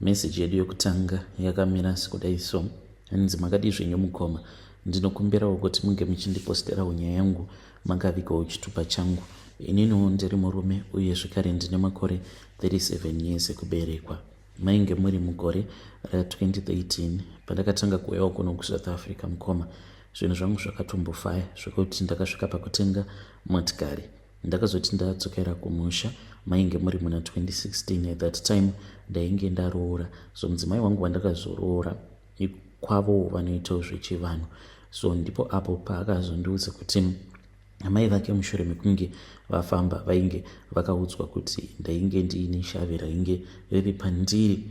Message yedu yokutanga yakamira sekudai so. Hanzi makadii zvenyu mukoma. Ndinokumbirawo kuti munge muchindiposterawo nyaya yangu makavikawo chitupa changu. Ininiwo ndiri murume uye zvekare ndine makore 37 years ekuberekwa. Mainge muri mugore ra 2013 pandakatanga kuuyawo kuno kusouth africa mukoma zvinhu zvangu zvakatombofaya zvekuti ndakasvika pakutenga motikari Ndakazoti ndadzokera kumusha mainge muri muna 2016 at that time ndainge ndaroora so mudzimai wangu wandakazoroora kwavo vanoitawo zvechivanhu so ndipo apo paakazondiudza kuti amai vake mushure mekunge vafamba vainge vakaudzwa kuti ndainge ndiine shavi rainge riri pandiri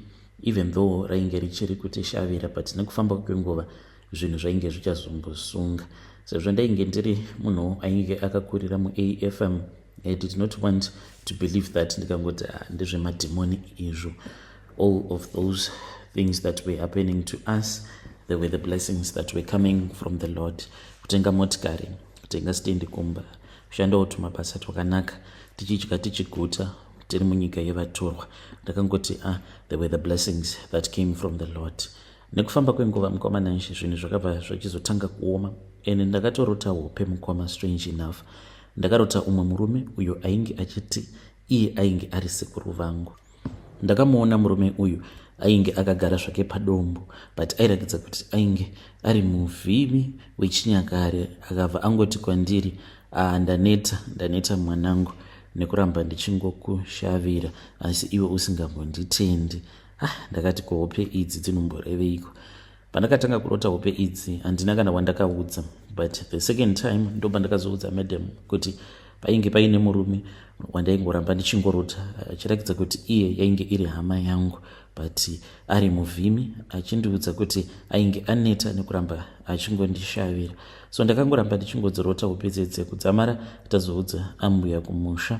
even though rainge richiri kuti shavira but nekufamba kwenguva zvinhu zvainge zvichazongosunga sezvo ndainge ndiri munhu ainge akakurira muafm i did not want to believe that ndikangoti ah, ndezvemadhimoni izvo all of those things that were happening to us there were the blessings that were coming from the lord kutenga motikari kutenga stendi kumba kushandawo tumabasa twakanaka tichidya tichiguta tiri munyika yevatorwa ndakangoti ah, there were the blessings that came from the lord Nekufamba kwenguva mukoma Nanshi zvinhu zvakabva zvachizotanga kuoma ene ndakatorota hope mukoma strange enough ndakarota umwe murume uyo ainge achiti iye ainge ari sekuru vangu ndakamuona murume uyu ainge akagara zvake padombo but airakidza kuti ainge ari muvhimi wechinyakare akabva angoti kwandiri aa ah, ndaneta ndaneta mwanangu nekuramba ndichingokushavira asi iwe usingambonditendi ah, ndakati ko hope idzi dzinomboreveiko pandakatanga kurota hope idzi handina kana wandakaudza but the second time ndopandakazoudza madam kuti painge paine murume wandaingoramba ndichingorota achiratidza kuti iye yainge iri hama yangu but ari muvhimi achindiudza kuti ainge aneta nekuramba achingondishavira so ndakangoramba ndichingodzirota upedzedze kudzamara tazoudza ambuya kumusha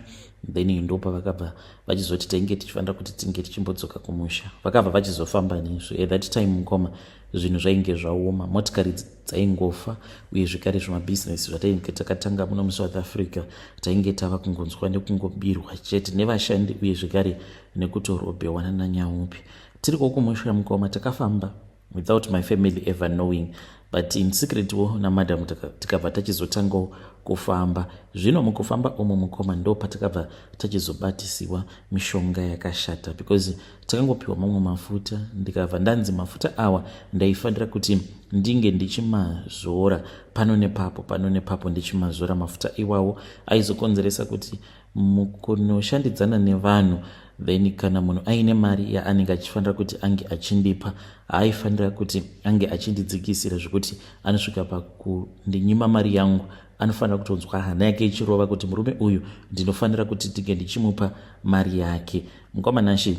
then ndopavakabva vachizoti tainge tichifanira kuti tinge tichimbodzoka kumusha vakabva vachizofamba nesu at that time mukoma zvinhu zvainge zvaoma motikari dzaingofa uye zvekare zvemabhizinesi zvatainge takatanga muno musouth africa tainge tava kungonzwa nekungobirwa chete nevashandi uye zvekare nekutorobhewana nanyaupi tiri kokumusha mukoma takafamba without my family ever knowing but in secret wo namadam tikabva tachizotangawo kufamba zvino mukufamba umu mukoma ndo patakabva tachizobatisiwa mishonga yakashata because takangopiwa mamwe mafuta ndikabva ndanzi mafuta awa ndaifanira kuti ndinge ndichimazora pano nepapo pano nepapo ndichimazora mafuta iwawo aizokonzeresa kuti mukunoshandidzana nevanhu then kana munhu aine mari yaanenge achifanira kuti ange achindipa haaifanira kuti ange achindidzikisira zvekuti anosvika pakundinyima mari yangu anofanira kutonzwa hana yake ichirova kuti murume uyu ndinofanira kuti ndinge ndichimupa mari yake mukoma nashe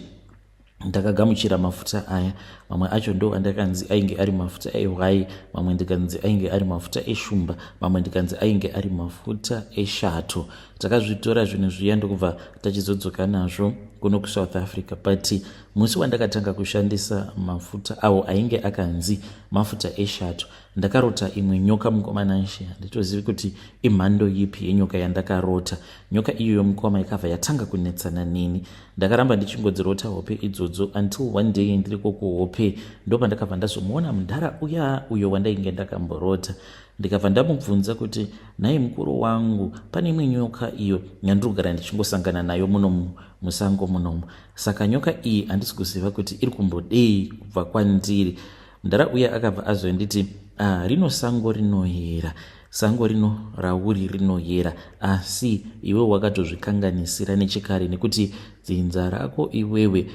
ndakagamuchira mafuta aya mamwe acho ndo andakanzi ainge ari mafuta ehwai mamwe ndikanzi ainge ari mafuta eshumba mamwe ndikanzi ainge ari mafuta eshato takazvitora zvinhu zviya ndokubva tachizodzoka nazvo kuno kusouth africa but musi wandakatanga kushandisa mafuta awo ainge akanzi mafuta eshato Ndakarota imwe nyoka mukoma Nanshe handitozivi kuti imhando yipi yenyoka yandakarota. Nyoka iyoyo mukoma ikabva yatanga kunetsana neni. Ndakaramba ndichingodzirota hope idzodzo until one day ndiriko kuhope ndopandakabva ndazomuona mudhara uya uyo wandainge ndakamborota. Ndikabva ndamubvunza kuti nhai mukuru wangu pane imwe nyoka iyo yandiri kugara ndichingosangana nayo munomu musango munomu. Saka nyoka iyi handisi kuziva kuti iri kumbodei kubva kwandiri. mdara uye akabva azonditi ah, rino sango rinoyera sango rino rauri rinoyera asi iwe wakatozvikanganisira nechekare nekuti dzinza rako iwewe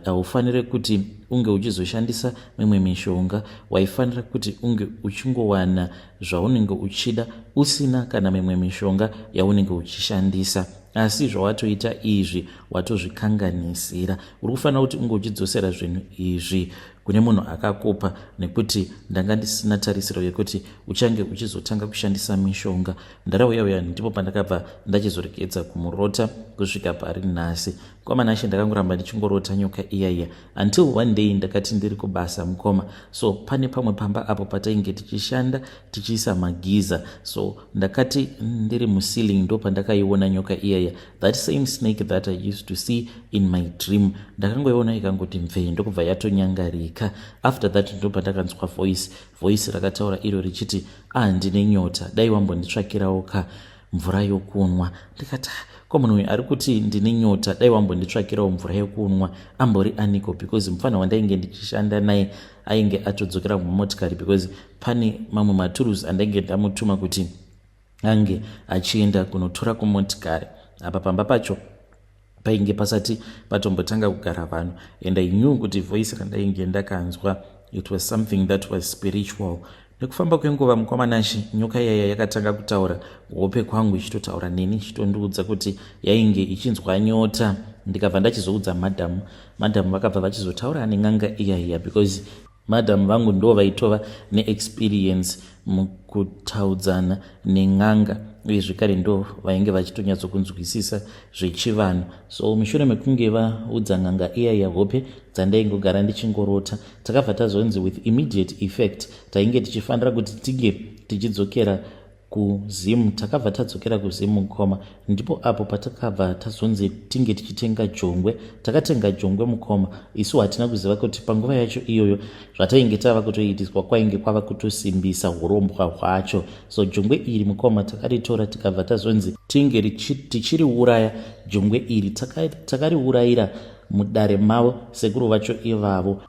haufanire kuti unge uchizoshandisa mimwe mishonga waifanira kuti unge uchingowana zvaunenge uchida usina kana mimwe mishonga yaunenge uchishandisa asi zvawatoita izvi watozvikanganisira uri kufanira kuti unge uchidzosera zvinhu izvi kune munhu akakupa nekuti ndanga ndisina tarisiro yekuti uchange uchizotanga kushandisa mishonga ndarauya uya ndipo pandakabva ndachizoregedza kumurota kusvika pari nhasi kwamanashe ndakangoramba ndichingorota nyoka iya iya until one day ndakati ndiri kubasa mukoma so pane pamwe pamba apo patainge tichishanda tichiisa magiza so ndakati ndiri muceiling ndo pandakaiona nyoka iyaya that same snake that i used to see in my dream ndakangoiona ikangoti mvee ndokubva yatonyangarika after that ndobva ndakanzwa voice voice rakataura iro richiti ah ndine nyota dai wambonditsvakirawo ka mvura yokunwa ndikati ah, ko munhu uyu ari kuti ndine nyota dai wambonditsvakirawo mvura yokunwa ambori aniko because mupfanha wandainge ndichishanda naye ainge atodzokera mumotikari because pane mamwe maturuzi andainge ndamutuma kuti ange achienda kunotora kumotikari apa pamba pacho painge pasati patombotanga kugara vanhu and i knew kuti voice randainge ndakanzwa it was something that was spiritual nekufamba kwenguva mukwamanashe nyoka yaya yakatanga kutaura hope kwangu ichitotaura neni ichitondiudza kuti yainge ichinzwa nyota ndikabva ndachizoudza madhamu madhamu vakabva vachizotaura nen'anga iyaiya because Madam vangu ndo vaitova neexperience mukutaudzana nen'anga uye zvekare ndo vainge vachitonyatsokunzwisisa zvechivanhu so mushure mekunge vaudza n'anga iya yehope dzandaingogara ndichingorota takabva tazonzi with immediate effect tainge tichifanira kuti tige tichidzokera kuzim takabva tadzokera kuzim mukoma ndipo apo patakabva tazonzi tinge tichitenga jongwe takatenga jongwe mukoma isu hatina kuziva kuti panguva yacho iyoyo zvatainge tava kutoitiswa kwainge kwava kutosimbisa urombwa hwacho so jongwe iri mukoma takaritora tikabva tazonzi tinge tichiriuraya jongwe iri takariurayira mudare mavo sekuru vacho ivavo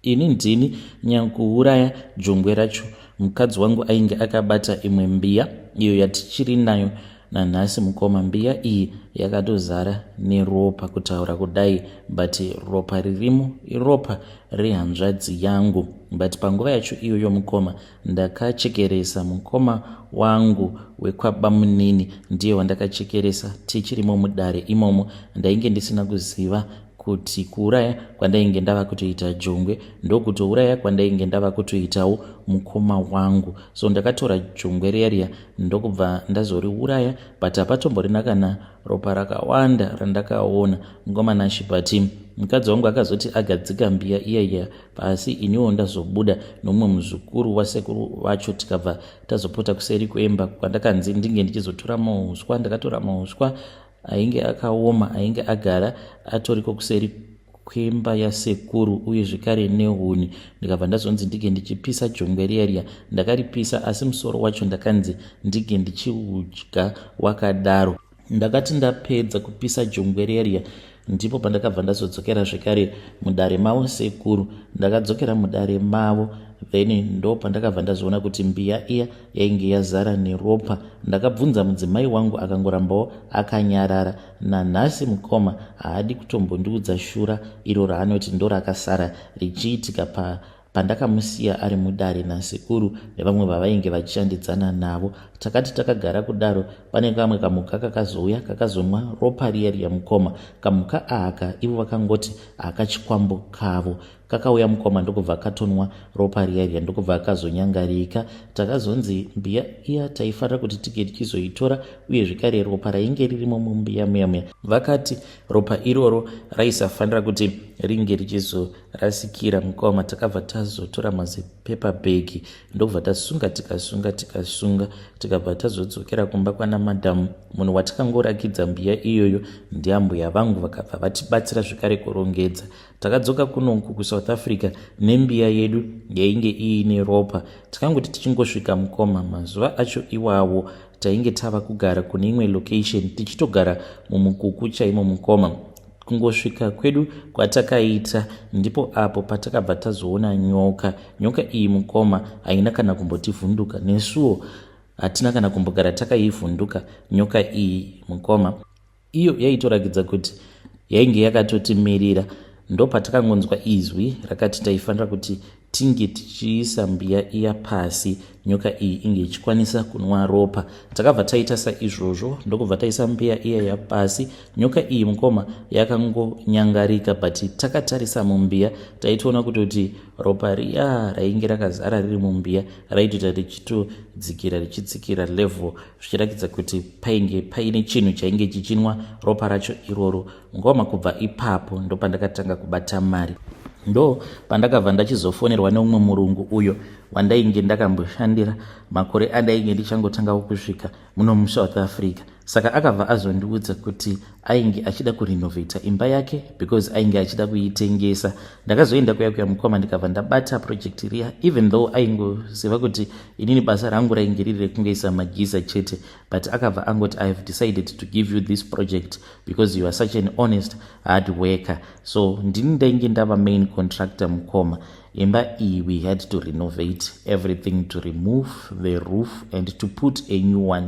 Ini ndini nyankuuraya jongwe racho. Mukadzi wangu ainge akabata imwe mbiya iyo yatichiri nayo nanhasi mukoma. Mbiya iyi yakatozara neropa kutaura kudai but ropa ririmo iropa rehanzvadzi yangu but panguva yacho iyoyo mukoma Ndakachekeresa mukoma wangu wekwabamunini ndiye wandakachekeresa tichirimo mudare imomo. Ndainge ndisina kuziva kuti kuuraya kwandainge ndava kutoita jongwe ndokutouraya kwandainge ndava kutoitawo mukoma wangu so ndakatora jongwe riya riya ndokubva ndazoriuraya but hapatomborina kana ropa rakawanda randakaona mukoma nashe but mukadzi wangu akazoti agadzika mbiya iya iya pasi iniwo ndazobuda nomumwe muzukuru wasekuru vacho tikabva tazopota kuseri kwemba kwandakanzi ndinge ndichizotora mauswa ndakatora mauswa ainge akaoma ainge agara atoriko kuseri kwemba yasekuru uye zvekare nehuni ndikabva ndazonzi ndinge ndichipisa jongwe riya riya ndakaripisa asi musoro wacho ndakanzi ndinge ndichiudya wakadaro ndakati ndapedza kupisa jongwe rerya ndipo pandakabva ndazodzokera zvekare mudare mavo sekuru ndakadzokera mudare mavo then ndo pandakabva ndazoona kuti mbiya iya yainge yazara neropa ndakabvunza mudzimai wangu akangorambawo akanyarara nanhasi mukoma haadi kutombondiudza shura iro raanoti ndorakasara richiitika pa Pandakamusiya ari mudare nasekuru nevamwe vavainge vachishandidzana navo, takati takagara kudaro, pane kamwe kamhuka kakazouya kakazonwa ropa riya riya mukoma. Kamhuka aka ivo vakangoti akachikwambo kavo kakauya mukoma ndokubva katonwa ropa riya riya ndokubva akazonyangarika takazonzi mbiya iya taifanira kuti tige tichizoitora uye zvekare ropa rainge ririmo mumbiya muya muya vakati ropa iroro raisafanira kuti ringe richizoita rasikira mukoma takabva tazotora mazipepa bhegi ndokubva tasunga tikasunga tikasunga tikabva tazodzokera kumba kwana madhamu munhu watikangorakidza mbiya iyoyo ndiambuya vangu vakabva vatibatsira zvekare kurongedza takadzoka kunoku kusouth africa nembiya yedu yainge iine ropa tikangoti tichingosvika mukoma mazuva acho iwawo tainge tava kugara kune imwe location tichitogara mumukuku chaimo mukoma kungosvika kwedu kwatakaita ndipo apo patakabva tazoona nyoka nyoka iyi mukoma haina kana kumbotivhunduka nesuwo hatina kana kumbogara takaivhunduka nyoka iyi mukoma iyo yaitorakidza kuti yainge yakatotimirira ndopatakangonzwa izwi rakati taifanira kuti tinge tichiisa mbiya iya pasi nyoka iyi inge ichikwanisa kunwa ropa takabva taita saizvozvo ndokubva taisa mbiya iya yapasi nyoka iyi mukoma yakangonyangarika but takatarisa mumbiya taitoona kutoti ropa riya rainge rakazara riri mumbiya raitoita richitodzikira richitsikira level zvichiratidza kuti painge paine chinhu chainge chichinwa ropa racho iroro ngoma kubva ipapo ndopandakatanga kubata mari ndo pandakabva ndachizofonerwa neumwe murungu uyo wandainge ndakamboshandira makore andainge ndichangotanga kusvika muno musouth africa saka akabva azondiudza kuti ainge achida kurenovata imba yake because ainge achida kuitengesa ndakazoenda kuya kuya mukoma ndikabva ndabata project riya even though aingoziva kuti inini basa rangu rainge riri rekungoisa magiza chete but akabva angoti ihave decided to give you this project because you are such an honest hard worker so ndini ndainge ndava main contractor mukoma imba iyi we had to renovate everything to remove the roof and to put a new one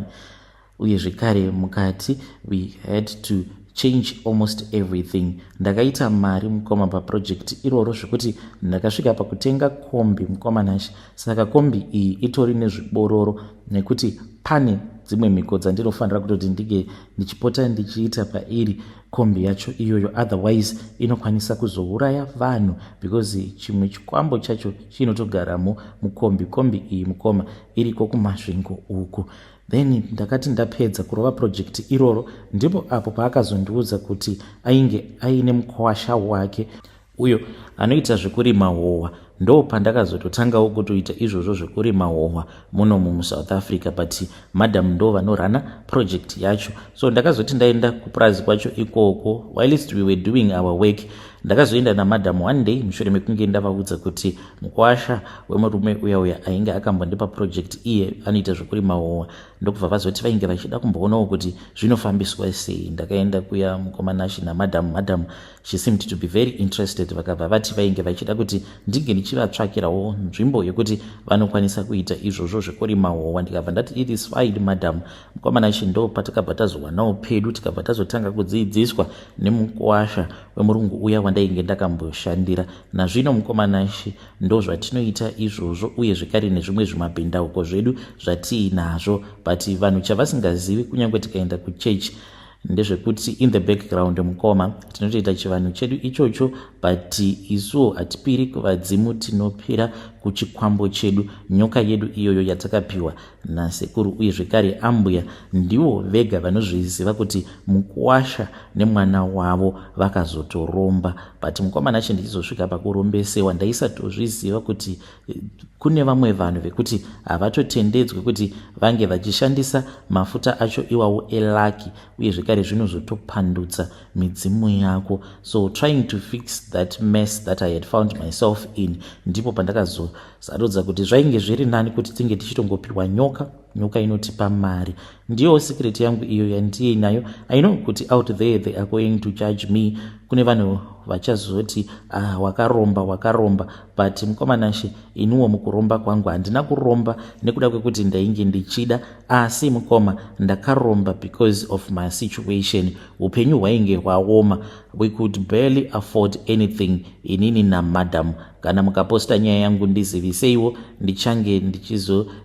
uye zvekare mukati we had to change almost everything ndakaita mari mukoma paproject iroro zvekuti ndakasvika pakutenga kombi mukoma nashe saka kombi iyi itori nezvibororo nekuti pane dzimwe mhiko dzandinofanira kutoti ndinge ndichipota ndichiita pairi kombi yacho iyoyo otherwise inokwanisa kuzouraya vanhu because chimwe chikwambo chacho chinotogaramo mukombi kombi iyi mukoma iriko kumasvingo uku then ndakati ndapedza kurova project iroro ndipo apo paakazondiudza kuti ainge aine mukwasha wake uyo anoita zvekurima hohwa ndo pandakazototangawo kutoita izvozvo zvekurima hohwa muno mumusouth africa but madam ndo vanorana project yacho so ndakazoti ndaenda kupurazi kwacho ikoko whilst we were doing our work ndakazoenda namadam one day mushure mekunge ndavaudza kuti mukwasha wemurume uya uya ainge akambondipa project iye anoita zvekurima hohwa ndokubva vazoti vainge vachida kumboonawo kuti zvinofambiswa sei ndakaenda kuya mukomanashe namadam madam She seemed to be very interested vakabva vati vainge vachida kuti ndinge ndichivatsvakirawo nzvimbo yekuti vanokwanisa kuita izvozvo zvekurima howa ndikabva ndati it is fine madam mukomana chindo patakabva tazowanawo pedu tikabva tazotanga kudziidziswa nemukwasha wemurungu uya wandainge ndakamboshandira nazvino mukomana shi ndo zvatinoita izvozvo uye zvekare nezvimwe zvimabhindauko zvedu zvatiinazvo but vanhu chavasingazivi kunyange tikaenda kuchechi ndezvekuti in the background mukoma tinotoita chivanhu chedu ichocho but isuwo hatipiri kuvadzimu tinopira kuchikwambo chedu nyoka yedu iyoyo yatakapiwa nasekuru uye zvekare ambuya ndivo vega vanozviziva kuti mukuwasha nemwana wavo vakazotoromba but mukomana chindichizosvika pakurombesewa ndaisatozviziva kuti kune vamwe vanhu vekuti havatotendedzwe kuti vange vachishandisa mafuta acho iwawo elaki uye zvekare zvinozotopandutsa midzimu yako so trying to fix that mess that i had found myself in ndipo pandakazosarudza kuti zvainge zviri nani kuti tinge tichitongopiwa nyoka nyoka inotipa mari ndiyowo secret yangu iyo yandiye nayo i know kuti out there they are going to judge me kune vanhu vachazoti ah wakaromba wakaromba but mukomanashe iniwo mukuromba kwangu handina kuromba nekuda kwekuti ndainge ndichida asi mukoma ndakaromba because of my situation upenyu hwainge hwaoma we could barely afford anything inini namadam kana mukaposta nyaya yangu ndiziviseiwo ndichange ndichizo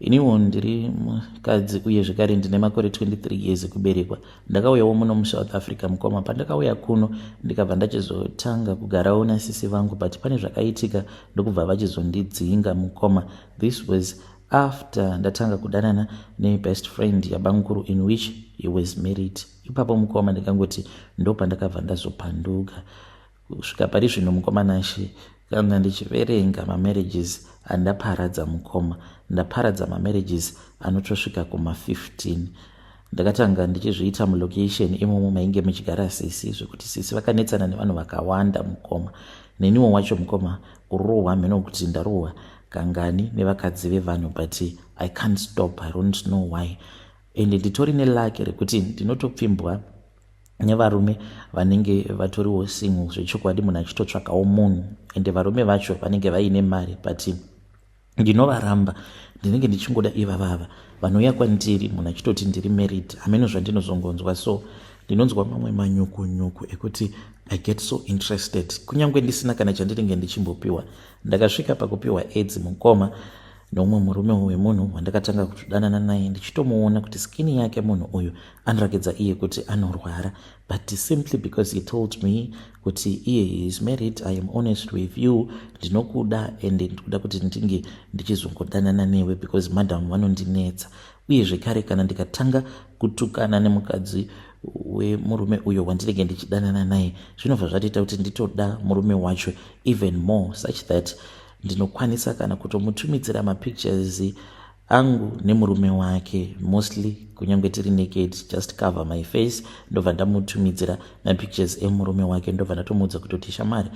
iniwo ndiri mukadzi uye zvekare ndine makore 23 years ekuberekwa ndakauyawo muno musouth africa mukoma pandakauya kuno ndikabva ndachizotanga kugarawo nasisi vangu but pane zvakaitika ndokubva vachizondidzinga mukoma this was after ndatanga kudanana nebest friend yabanguru in which he was married ipapo mukoma ndikangoti ndopandakabva ndazopanduka Kusvika pari zvino mukoma Nashe kana ndichiverenga mamarriages andaparadza mukoma ndaparadza mamarriages anotosvika kuma 15 ndakatanga ndichizviita mulocation imomo mainge muchigara sisi zvekuti sisi vakanetsana nevanhu vakawanda mukoma neniwo wacho mukoma kurohwa hameno kuti ndarohwa kangani nevakadzi vevanhu but i can't stop i don't know why and nditori nelake rekuti ndinotopfimbwa nevarume vanenge vatoriwo single zvechokwadi munhu achitotsvakawo munhu ende varume vacho vanenge vaine mari but ndinovaramba ndinenge ndichingoda ivavava vanouya kwandiri munhu achitoti ndiri married hameno zvandinozongonzwa so ndinonzwa mamwe manyukunyuku ekuti i get so interested kunyange ndisina kana chandinenge ndichimbopiwa ndakasvika pakupiwa aids mukoma neumwe murume wemunhu wandakatanga kutodanana naye ndichitomuona kuti skin yake munhu uyu anorakidza iye kuti anorwara but simply because he told me kuti iye is married i am honest with you ndinokuda and ndikuda kuti ndinge ndichizongodanana newe because madam vanondinetsa uye zvekare kana ndikatanga kutukana nemukadzi wemurume uyo wandinenge ndichidanana naye zvinobva zvatoita kuti nditoda murume wacho even more such that ndinokwanisa kana kutomutumidzira mapictures angu nemurume wake mostly kunyange tiri naked just cover my face ndobva ndamutumidzira mapictures emurume wake ndobva ndatomuudza kutoti shamari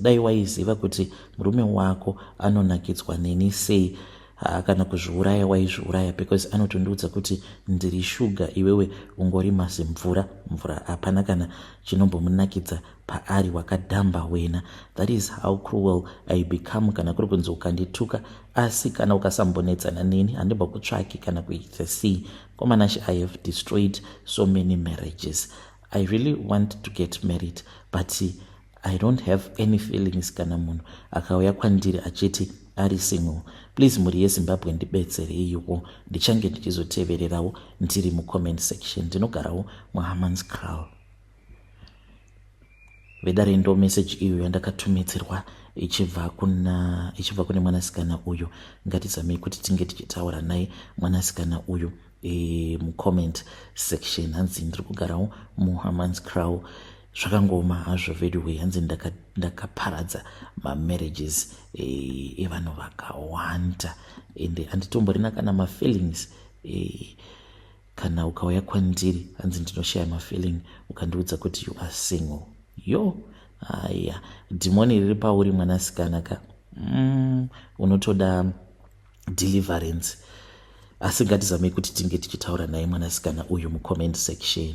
dai waiziva kuti murume wako anonakidzwa neni sei haa kana kuzviuraya waizviuraya because anotondiudza kuti ndiri shuga iwewe ungori mazimvura mvura hapana kana chinombomunakidza paari wakadhamba wena that is how cruel i become kana kuri kunzi ukandituka asi kana ukasambonetsana neni handimbo kutsvaki kana kuita sei komanashe i have destroyed so many marriages i really want to get married but i don't have any feelings kana munhu akauya kwandiri achiti ari single please mhuri yezimbabwe ndibetsereiwo ndichange ndichizotevererawo ndiri mucomment section ndinogarawo muhamans crow vedare ndo message iyo yandakatumidzirwa ichibva kuna ichibva kune mwanasikana uyu ngatizamei kuti tinge tichitaura naye mwanasikana uyu e, mucomment section hanzi ndiri kugarawo muhamans crow zvakangoma hazvo veduway hanzi ndakaparadza ndaka mamarriages e, evanhu vakawanda ende anditomborina kana mafeelings e, kana ukauya kwandiri hanzi ndinoshaya mafeeling ukandiudza kuti you are single yo haya dhimoni riri pauri mwanasikana ka mm, unotoda deliverance asi ngatizamei kuti tinge tichitaura naye mwanasikana uyu mucomment section